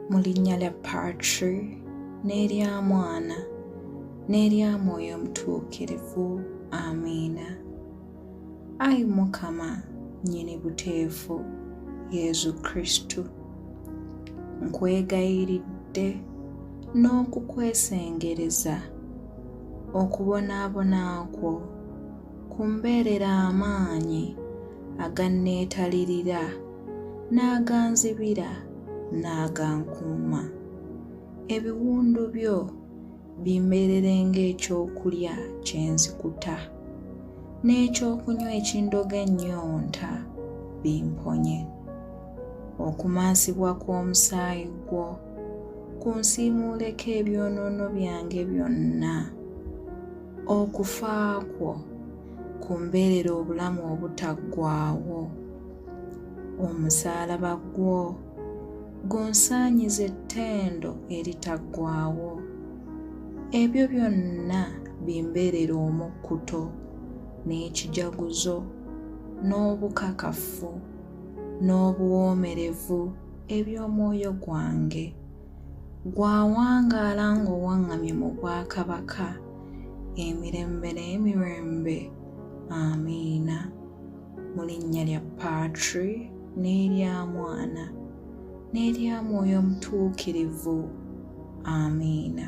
mu linnya lya patri n'erya mwana n'erya mwoyo omutuukirivu amiina ayi mukama nyini buteefu yezu kristu nkwegayiridde n'okukwesengereza okubonaabona kwo kumbeerera amaanyi aganneetalirira n'aganzibira n'agankuuma ebiwundu byo bimbeerere ng'ekyokulya kye nzikuta n'ekyokunywa ekindoga ennyonta bimponye okumansibwa kw'omusaayi gwo kunsiimuuleko ebyonoono byange byonna okufa kwo kumbeerere obulamu obutaggwaawo omusaalaba gwo gunsaanyiza ettendo eritaggwaawo ebyo byonna bimbeerera omukkuto n'ekijaguzo n'obukakafu n'obuwoomerevu eby'omwoyo gwange gwawangaala ng'owaŋŋamye mu bwakabaka emirembe n'emirembe amiina mu linnya lya Patri n'erya Mwana n'erya Mwoyo Mutuukirivu. Amiina.